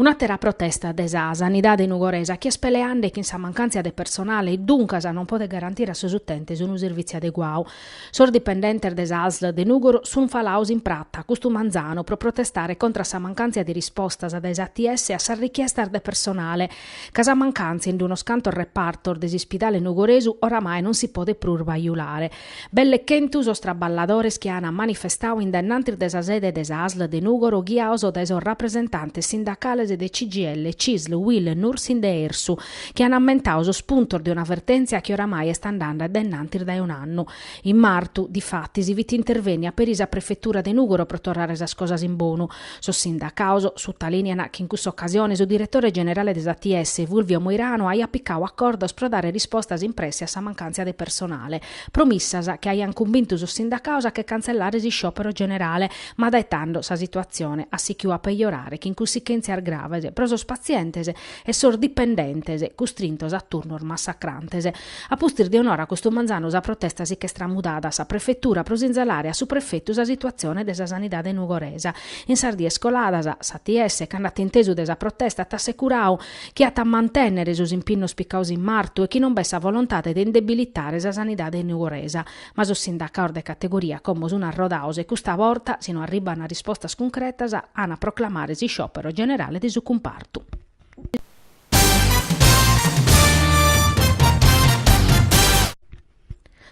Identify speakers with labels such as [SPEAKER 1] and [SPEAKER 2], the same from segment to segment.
[SPEAKER 1] Un'àtera protesta de sa sanidade nugoresa chi est peleande chin sa mancàntzia de personale e duncas non podet garantire a sos utentes unu servìtziu adeguau. Sos dipendentes de sa Asl de Nùgoro sun falaos in prata custu manzanu pro protestare contra a sa mancàntzia de rispostas dae s'ATS a sas richiestas de personale ca sa mancàntzia in unos cantos repartos de s'ispidale nugoresu oramai non si podet prus bajulare. Belle chentu sos traballadores chi an manifestau in dennantis de sa sede de sa Asl de Nùgoro ghiaos dae sos rapresentantes sindacales de CGIL, Cisl, Uil, Nursind e RSU, chi an ammentau sos puntos de una vertèntzia chi oramai est andande dennantis dae un'annu. In martu, difatis, fit intervènnia peri sa prefetura de Nùgoro pro torrare sas cosas in bonu, Sos sindacaos sutalìnean chi in cussa ocasione su diretore generale de s'ATS, Fulvio Moirano, aiat picau acordos pro dare rispostas in presse a sa mancàntzia de personale. Promissas chi aiant cumbintu sos sindacaos a che cantzellare s'isciòpero generale, ma dae tando sa situatzione at sichiu a pejorare chin cussichèntzias graves pro sos patzientes e sos dipendentes, custrintos a turnos massacrantes. A pustis de un'ora custu manzanu sa protesta si ch'est tramudada a sa prefetura pro sinzalare a su prefetu sa situatzione de sa sanidade nugoresa. In sas dies coladas, s'ATS, cando at intesu de sa protesta, at assecurau chi at a mantènnere sos impinnos picaos in martu e chi non b'est sa volontade de indebilitare sa sanidade nugoresa. Ma sos sindacaos de categoria, como sun arrodaos e custa borta, si no arribant rispostas cuncretas, an a proclamare s'isciòpero generale de su cumpartu.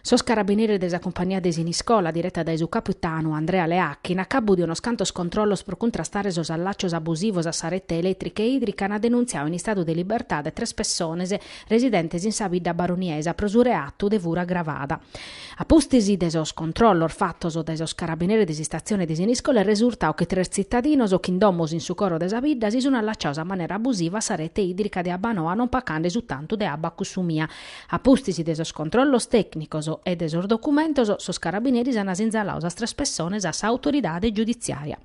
[SPEAKER 1] Sos carabineres de sa cumpagnia de Siniscola, direta dae su capitanu Andrea Leacchi, in acabu de unos cantos controllos pro cuntrastare sos allàcios abusivos a sa rete elètrica e ìdrica ant denuntziau in istadu de libertade tres pessones residentes in sa bidda baroniesa pro su reatu de fura agravada. A pustis de sos controllos fatos dae sos carabineres de s'istatzione de Siniscola est resurtau chi tres tzitadinos chin domos in su coro de sa bidda si sunt allaciaos a manera abusiva a sa rete ìdrica de Abbanoa non pacande su tantu de abba cussumia. A pustis de sos controllos tècnicos e de sos documentos sos carabineres ant sinzalau sas tres pessones a sa autoridade giudiziària.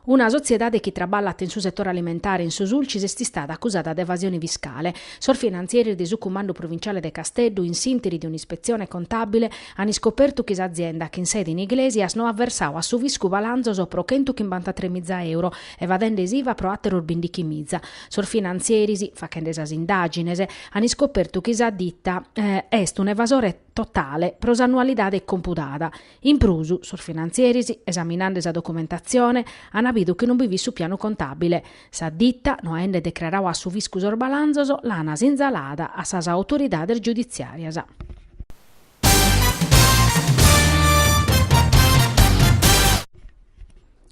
[SPEAKER 1] Una sotziedade chi traballat in su setore alimentare in su Sulcis est istada acusada de evasione fiscale. Sos finantzeris de su Cumandu Provinciale de Casteddu, in s'interi de un'ispetzione contàbile, an iscopertu chi s'azienda, chin sede in Iglesias, no at versau a su fiscu balanzos pro chentu chimbantatrè miza euro, evadende s'Iva pro àteros bindichi miza. Sos finantzeris, fachende sas indàgines, an iscopertu chi sa ditta est un'evasore totale pro s'annualidade compudada, In prus, sos finantzieris, esaminande sa documentatzione, ant bidu chi non bi fit su pianu contàbile. Sa ditta, no aende decraradu a su fiscu sos balanzos, l'ant sinzalada a sas autoridades giuditziàrias.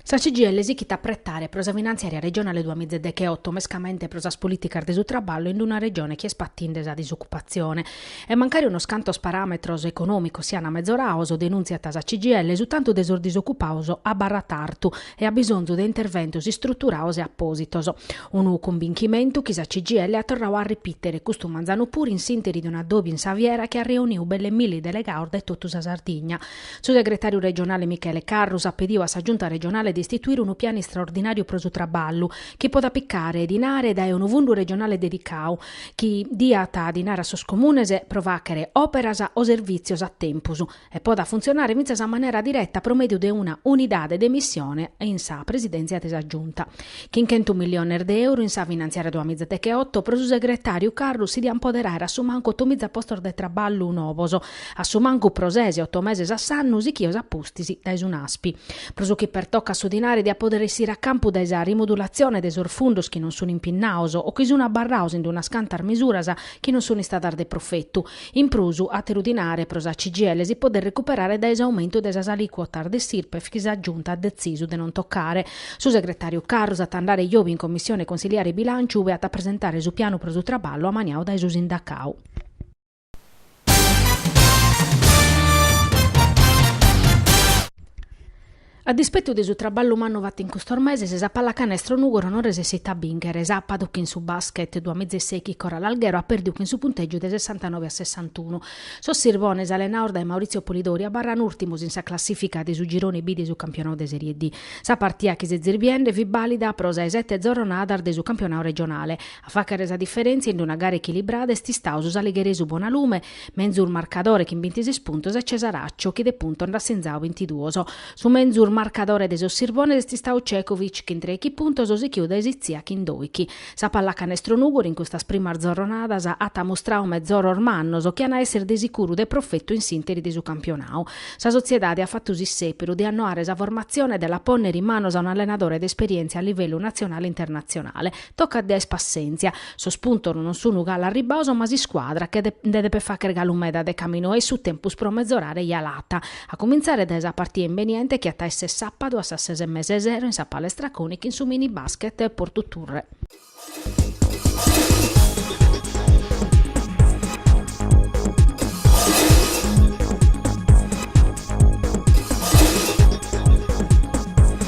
[SPEAKER 1] Sa CGL sichit a pretare pro sa finantziària regionale duamiza deche-oto mescamente pro sas polìticas de su traballu in una Regione chi est patinde sa disocupazione. E mancari unos cantos paràmetros econòmicos siana mezorados, denuntziat sa CGL, su tantu de sos disocupados abarrat artu e at bisonzu de interventos istruturados e apòsitos. Unu cumbinchimentu chi sa CGL at torradu a repìtere custu manzanu puru in s'ìnteri de un'addòbiu in sa fiera chi at reunidu belle milli delegados dae totu sa Sardigna, Su segretàriu regionale Michele Carrus at pediu a sa Giunta regionale de istituire unu pianu istraordinàriu pro su traballu, chi podat picare dinare dae unu fundu regionale dedicadu, chi diat dinare a sos comunes pro fàchere òperas o servìtzios a tempus e podat funtzionare fintzas a manera direta pro mèdiu de una unidade de missione in sa Presidèntzia de sa Giunta. Chin chentu milliones de euro in sa finantziària duamiza deche-oto pro su segretàriu Carrus si diant poder àere a su mancu otomiza postos de traballu novos, A su mancu pro ses oto meses a s'annu sichios a pustis dae su NASPI. Pro su chi pertocat su dinare diat pòdere essire a campu dae sa rimodulatzione de sos fundos chi non sun impinnados o chi sun abarrados in unas cantas misuras chi non sun istadas de profetu. In prus, àteru dinare pro sa CGL si podet recuperare dae s'aumentu de sas alìcuotas de s'Irpef chi sa Giunta at detzisu de non tocare. Su segretàriu Carrus at a andare jòbia in Commissione Consiliare Bilànciu ue at a presentare su pianu pro su traballu amaniadu dae su sindacadu. A dispettu de su traballu mannu fatu in custos meses, sa pallacanestro Nùgoro non resessit a bìnchere. Sàbadu chin su Basket duamiza e sèichi Coral Alghero at pèrdiu chin su puntègiu de sessantanove a sessantunu. Sos sirbones allenados dae Maurizio Polidori abarran ùrtimos in sa classìfica de su girone B de su campionadu de Serie D. Sa partida chi setzis biende fit bàlida pro sa 'e sete zorronadas de su campionadu regionale. A fàghere sa diferèntzia in una gara echilibrada est istadu su saligheresu Bonalume, menzus marcadore chin bintises puntos e Cesaraccio chi de puntos nd'at sinzadu bintiduos. Su menzus marcadore de sos Sirbones est istadu Cekovic chin trèichi puntos sichiu dae Sitzia chin dòichi. Sa pallacanestro Nùgoro in custas primas zorronadas at ammustradu mezoros mannos chi an a èssere de sicuru de profetu in s'ìnteri de su campionadu. Sa Sotziedade at fatu s'issèperu de annoare sa formatzione e de la pònnere in manos a un'allenadore de esperièntzia a livellu natzionale e internatzionale. Tocat de aer passèntzia. Sos puntos non sunu galu arribbados ma s'iscuadra che nde depet fàghere galu meda de caminu 'e su tempus pro mezorare ja l'at, a comintzare dae sa partida imbeniente chi at a èssere sàpadu a sas ses e mesa 'e sero in sa Palestra Coni chin su Mini Basket Portu Turre.